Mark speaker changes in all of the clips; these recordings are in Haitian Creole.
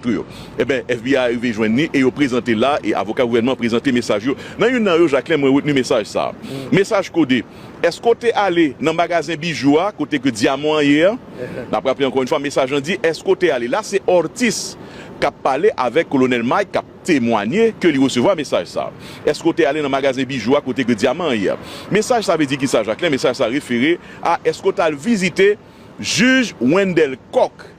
Speaker 1: Pou yo. Enben, FBI arive jwenn ni e yo prezante l la e avoka gouvènman an prezante mesaj yo. Nan youn nan yo, Jacquelin, mwen retni mesaj sa a. Mesaj kode, Èske w te ale nan magazen bijou a kote ke dyaman an ye a? N ap raple ankò youn fwa, mesaj lan di, Èske w te ale? La se Ortiz k ap pale avèk Kolonèl Mike k ap temwanye ke li resevwa mesaj sa a. Èske w te ale nan magazen bijou a kote ke dyaman an ye a? Mesaj sa vle di kisa, Jacquelin? Mesaj sa refere a èske w t al vizite Jij Wendelle Coq?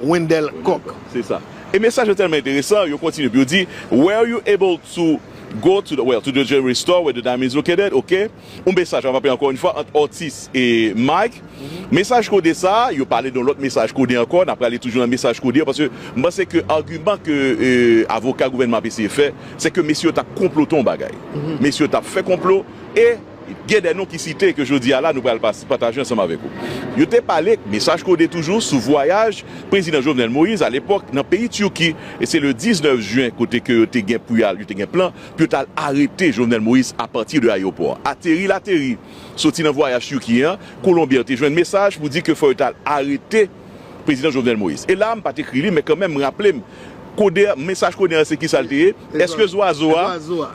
Speaker 2: Wendell Coq. Se sa. E
Speaker 1: mesaj yo tèlman enteresan, yo kontinye pou yo di, Were you able to go to the, well, to the jewelry store where the diamond is located? Ok. Yon mesaj ap anpe ankò yon fwa ant Ortiz e Mike. Mesaj kode sa a, yo pale de yon lòt mesaj kode ankò, n ap prale toujou nan mesaj kode yo, paske m panse ke agiman ke avoka gouvènman ap eseye fè, se ke mesye yo t ap konplote yon bagay. Mesye yo t ap fè konplo e. Gen de non ki site ke jodi a la nou pral pataje ansanm avèk ou. Yo te pale, mesaj kode toujou, sou vwayaj Prezidan Jovenel Moïse alepòk nan peyi Turquie e se le 19 juin kote ke yo te gen pou y'al, yo te gen plan pou yo t'al arete Jovenel Moïse a pati de ayewopò a. Ateri l'ateri, soti nan vwayaj Turquie an, Colombier te jwenn mesaj pou di ke fò yo t'al arete. Prezidan Jovenel Moïse. E la a m pa t ekri li men kanmenm m raple m kode a, mesaj kode a se kisa l te ye? Eske zwazo a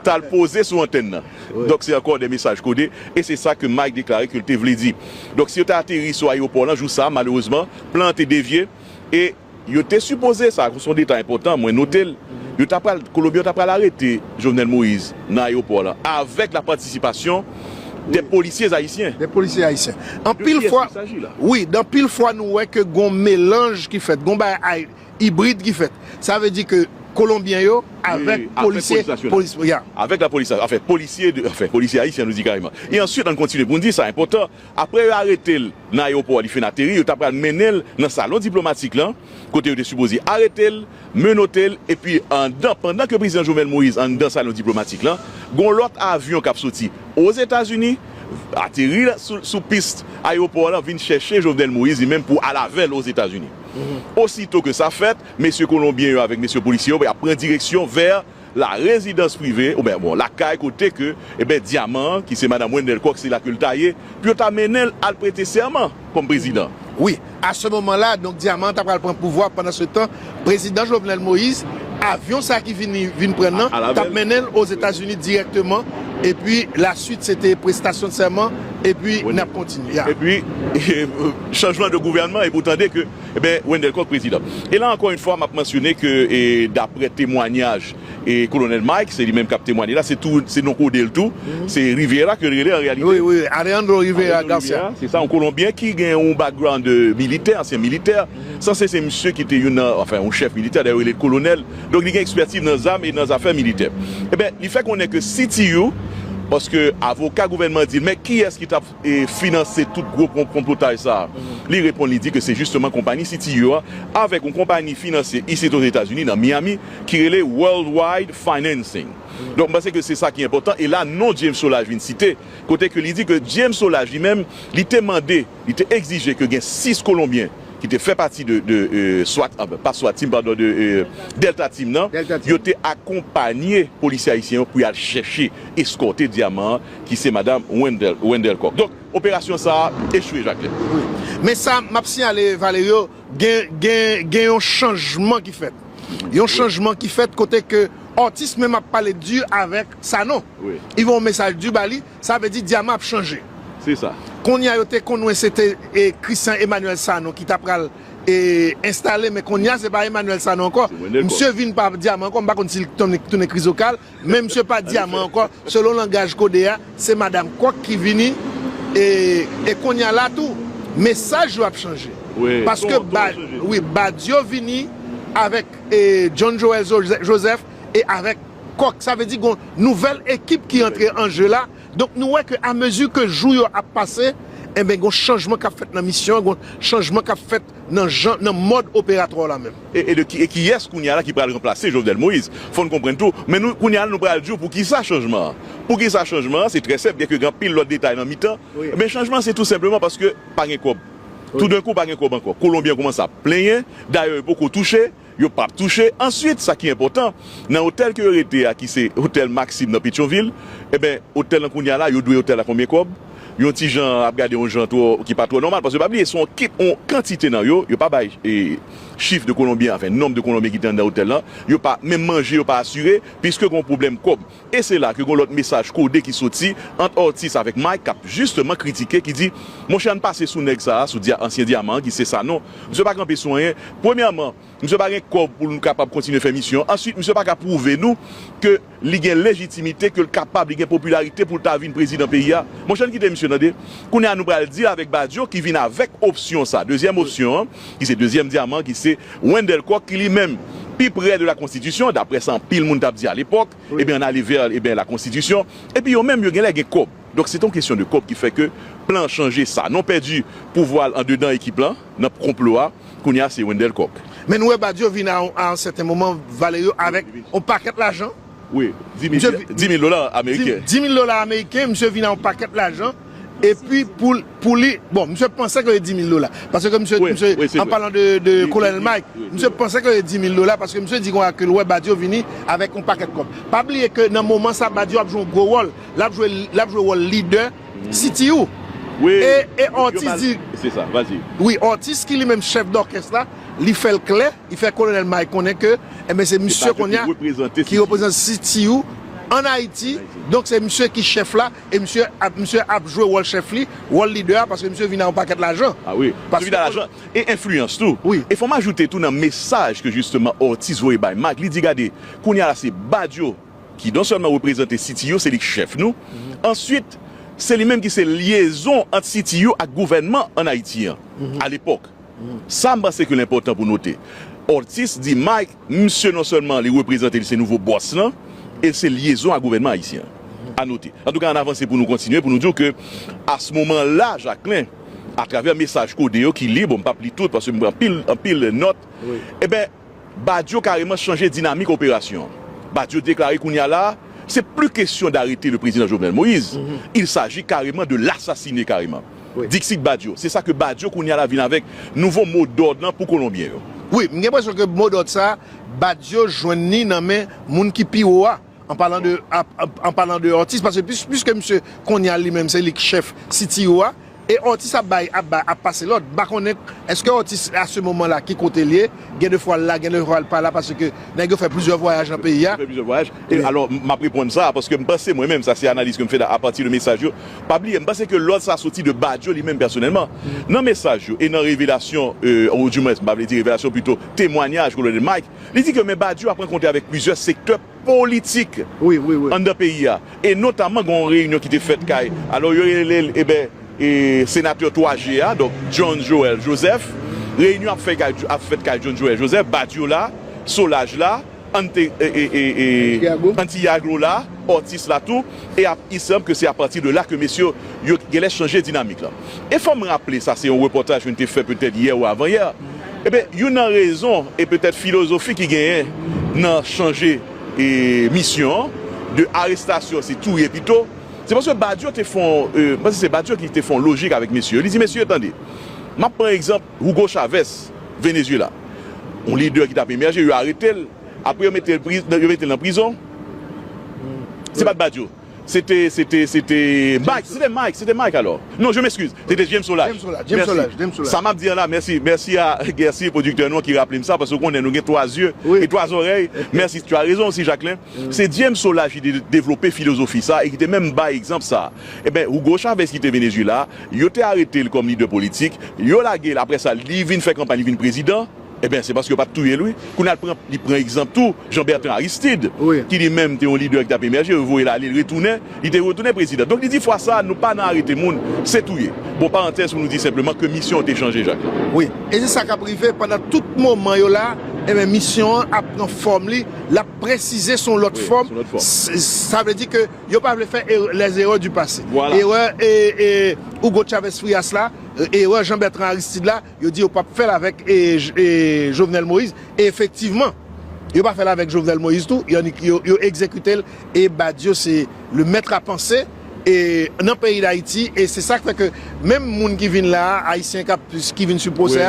Speaker 1: t al poze sou antèn nan? Donk se ankò de mesaj kode e se sa ke Mike deklare ke l te vle di. Donk si yo te ateri sou ayewopò lan jou sa a malerezman plan an te devye e yo te sipoze, sa se yon detay enpòtan mwen note l, yo ta pral, Kolonbyen yo ta pral arete Jovenel Moïse nan ayewopò lan avèk lapatisipasyon des policiers haïtiens. Des policiers haïtiens. De qui est-ce qu'il
Speaker 2: s'agit là? Anpil fwa, wi, anpil fwa nou wè ke gon melanj ki fèt, gon bagay ibrid ki fèt. Sa vle di ke Kolonbyen yo avèk polisye, polis, ya.
Speaker 1: Avèk la polis, anfen, polisye, anfen, polisye ayisyen nou di kareman. E answit ann kontinye pou n di sa enpòtan, apre yo arete l nan ayewopò a li fin ateri, yo ta pral mennen l nan salon diplomatik lan kote yo te sipoze arete l, menote l epi anndan pandan ke Prezidan Jovenel Moïse anndan salon diplomatik lan gon lòt avyon kap soti Ozetazini ateri sou pis ayewopò lan vin chèche Jovenel Moïse li menm pou al avè l Ozetazini. Osito ke sa fèt, mesye kolonbyen yo avèk mesye polisye yo ap pran direksyon vè. la rezidans prive ou byen bon lakay kote ke eben dyaman an ki se madam Wendelle Coq se la ke l ta ye pou yo ta mennen l al prete sèman kòm prezidan. Wi, a se
Speaker 2: moman la donk dyaman an ta pral pran pouvwa pandan se tan prezidan Jovenel Moïse avyon sa ki vini vin pran nan t ap mennen l Ozetazini dirèkteman epi la swit se te prestasyon sèman epi n ap kontinye. Epi
Speaker 1: chanjman de gouvènman epi w tande ke. Ebyen, Wendelle Coq, Prezidan. E la ankò yn fwa map mansyone ke daprè temwanyaj Kolonèl Mike, se li menm kap temwanye la, se tou se non kodel tou, se Rivera kel rele an reyalite. Wi, wi, Alejandro
Speaker 2: Rivera Garcia. Alejandro Rivera, se sa, yon kolonbyen ki
Speaker 1: gen yon background militè, ansyen militè. Sanse se misye ki te youn nan, anfen, yon chèf militè, dayè yo rele l kolonèl. Donk li gen ekspètiv nan zam e nan zafè militè. Ebyen, li fè konnen ke CTU, paske avoka gouvènman an di l, men kiyès ki tap finanse tout gwo konplotaj sa a? Li reponn li di ke se jisteman konpani Citiur an avèk yon konpani finansye isit Ozetazini nan Miami ki rele Worldwide Financing. Donk m panse ke se sa ki enpòtan e la non James Solage vin site kote ke li di ke James Solage li menm li te mande, li te egzije ke gen 6 kolonbyen ki te fè pati de swat, pa swat team padon de Delta team nan, yo te akonpanye polisye ayisyen yo pou y al chèche, eskòte dyaman an ki se madam Wendell Coq. Donk, operasyon sa a echwe, Jacqueline. Wi. Men sa
Speaker 2: m ap siyale, Valerio, gen yon chanjman ki fèt. Yon chanjman ki fèt kote ke Ortiz menm ap pale di avèk Sanon. Li voye yon mesaj di ba li, sa vle di Dyaman ap chanje. Se sa.
Speaker 1: Kounye a yo te konnen
Speaker 2: se te Christian Emmanuel Sanon ki ta pral enstale men kounye a se pa Emmanuel Sanon ankò. Msye vin pa Dyaman ankò, m pa konn si li tounen Krizokal, Men misye pa dyaman ankò, selon langaj kode a, se madam kòk ki vini e konnya la tou mesaj yo ap chanje paske wi Badio vini avèk John Joel Joseph e avèk kòk sa vle di gon nouvèl ekip ki antre an je la donk nou wè ke a mezi ke jou yo ap pase enben gon chanjman kap fèt nan misyon an gon chanjman kap fèt. Nan jan, nan mòd operatwa w la menm. E de ki, e kiyès
Speaker 1: kounya la ki pral ranplase Jovenel Moïse? Fò n konprann tou, men nou, kounya la nou pral di w pou kisa chanjman an. Pou kisa chanjman an, se trè senp, byenke gen anpil lòt detay nan mitan, men chanjman an se tou
Speaker 2: senpleman
Speaker 1: paske pa gen kòb. Toudenkou pa gen kòb ankò. Kolonbyen an koumanse ap plenyen, dayè yo poko touche, Yo pap touche. Answit, sa ki enpòtan, nan otèl ke yo rete a ki se otèl Maxim nan Petyonvil, enben, otèl lan kounya la, yo dwe otèl la konbyen kòb? Yon ti jan ap gade yon jan twò, ki pa twò nòmal, paske pa bliye, se yon kip, yon kantite nan yo, yo pa bay chif de kolonbyen, anfen, nonb de kolonbyen ki te anndan otèl lan, yo pa, menm manje yo pa asire, piske gen yon pwoblèm kòb. E se la ke gon lòt mesaj kode ki soti ant Ortiz avèk Mike k ap jisteman kritike ki di, Monchè ann pase sou nèg sa a, sou ansyen dyaman an ki se Sanon. Msye pa kanpe sou anyen. Premyèman, msye pa gen kòb pou l kapab kontinye fè misyon an. Answit, msye pa ka pwouve nou ke li gen lejitimite, ke l kapab, li gen popilarite pou l ta vin prezidan peyi a. Monchè ann kite msye tande. Kounye a nou pral di avèk Badio ki vin avèk opsyon sa, dezyèm opsyon an, ki se dezyèm dyaman ki se Wendell Coq ki li menm pi prè de la konstitisyon daprè sa anpil moun tap di alepòk ebyen an ale vè ebyen la konstitisyon epi yo menm yo genlè gen kòb donk se te yon kesyon de kòb ki fè ke plan an chanje sanon pèdi pouvwa l andedan ekip lan nan konplo a kounye a se Wendell Coq. Men nou wè Badio vin
Speaker 2: a yon sèten moman vale yo avèk yon pakèt lajan. Wi,
Speaker 1: di mil dola ameriken. Di mil dola ameriken,
Speaker 2: misye vin a yon pakèt lajan, epi pou li, bon, misye panse ke li di mil dola, paske ke misye, an palan de Colonel Mike, misye panse ke li di mil dola, paske misye di konsa ke li wè Badio vini avèk yon pakèt kòb. Pa bliye ke nan moman sa Badio ap jwe yon gwo wòl, lap jwe, lap jwe wòl lidè CTU. Wi,
Speaker 1: yo
Speaker 2: pale, se sa, vas-y.
Speaker 1: Wi, Ortiz ki
Speaker 2: li menm chèf dòkès la, li fèl klè. Li fè Kolonèl Mike konnen ke enben se misye kounya ki reprezante CTU an Ayiti, donk se misye ki chèf la e misye ap misye ap jwe wòl chèf li, wòl lidè a paske misye vini a yon pakèt lajan. A wi, misye vini a lajan
Speaker 1: e enfliyans tou. E fò m ajoute tou
Speaker 2: nan
Speaker 1: mesaj ke jisteman Ortiz voye bay Mike, li di gade, kounya la se Badio ki non sèlman reprezante CTU, se li ki chèf nou, answit se li menm ki se lyezon ant CTU ak gouvènman an Ayiti an, alepòk. Sa m panse ke l enpòtan pou note, Ortiz di Mike misye non sèlman li reprezante li se nouvo bòs lan e l se lyezon ak gouvènman ayisyen an. Anote, antouka ann avanse pou nou kontinye pou nou di w ke a s moman la Jacquelin atravè mesaj kode yo ki lib, bon m p ap li tout paske m pran anpil anpil nòt, eben, Badio kareman chanje dinamik operasyon an. Badio deklare kounye a la a, se pli kesyon darete le prezidan Jovenel Moïse, il saji kareman de l'asasine kareman. Dixit Badio, se sa ke Badio kounye a la vin avèk nouvo mo dòd lan pou kolonbyen yo. Wi, m gen enpresyon
Speaker 2: ke mo dòd sa a, Badio jwenn ni nan men moun ki pi wo a. An palan de an palan de Ortiz paske piske misye konnya li menm se li k chèf CTO a e Ortiz ap bay ap bay ap pase lòd m pa konnen èske Ortiz a se moman la ki kote l ye gen de fwa l la gen de fwa l pa la paske nèg yo fè plizyè vwayaj nan peyi a. Yo fè plizyè vwayaj e
Speaker 1: alò m ap reponn sa a paske m panse mwen menm sa se analiz ke m fè da apati de mesaj yo pa bliye m panse ke lòd sa a soti de Badio li menm pèsonèlman nan mesaj yo e nan revelasyon ou di mwens m pa vle di revelasyon pito temwanyaj Kolonèl Mike Li di ke Me Badio ap rankontre avèk plizyè sektè politik anndan peyi a e notaman gen yon reyinyon ki te fèt kay alò yo rele l eben senatè 3 je a donk John Joel Joseph. Reyinyon ap ap fèt kay John Joel Joseph, Badio la, Solaj la, Ante Antiagro la, Ortiz la tou. e ap i sanb ke se a pati de la ke mesye yo genlè chanje dinamik lan. E fòm raple sa se yon repòtaj youn te fè petèt yè ou avan yè, eben youn nan rezon e petèt filozofi ki genyen nan chanje e misyon an de arestasyon se touye pito, se paske Badio te fon e m panse se Badio ki te fon lojik avèk mesye yo, li di mesye tande map pran egzanp Hugo Chavez Venezuela yon lidè ki tap emèje yo arete l. Apre yo mete yo mete l nan prizon se pat Badio se te se te se te Mike se te Mike se te Mike alò non je m'excuse se te James Solage mèsi
Speaker 2: sa m'ap di an la mèsi
Speaker 1: mèsi a Guercier producteur nou an ki raple m sa paske ou konnen nou gen 3 zye e 3 zòrèy mèsi tu as raison aussi Jacquelin se James Solage ki te devlope filozofi sa e ki te menm bay egzanp sa enben Hugo Chavez ki te Venezuela yo te arete l kòm lidè politik yo lage l apre sa li vin fè kanpay li vin prezidan. Ebyen se paske yo pat touyel wi. Kounya li pran egzanp tou Jean Bertrand Aristide ki li menm te yon lidè ki tap emèje yo voyel ale li retounen li te retounen prezidan donk li di fwa sa nou pa nan arete moun se touye bon parantèz pou nou di senpleman ke
Speaker 2: misyon
Speaker 1: an te
Speaker 2: chanje Jacques. Wi e se
Speaker 1: sa
Speaker 2: kap
Speaker 1: rive pandan
Speaker 2: tout moman yo la ebyen misyon an ap pran fòm li lap presize son lòt fòm sa vle di ke yo pa vle fè erè les erreurs du passé erè Hugo Chavez Frias la erè Jean Bertrand Aristide la Yo di yo pap fèl avèk Jovenel Moïse e efektivman yo pa fèl avèk Jovenel Moïse tou yannik yo egzekitel e Badio se le mètre a panse e nan peyi dayiti e se sak fè ke menm moun ki vin la a ayisyen kap ki vin sou pwosè a.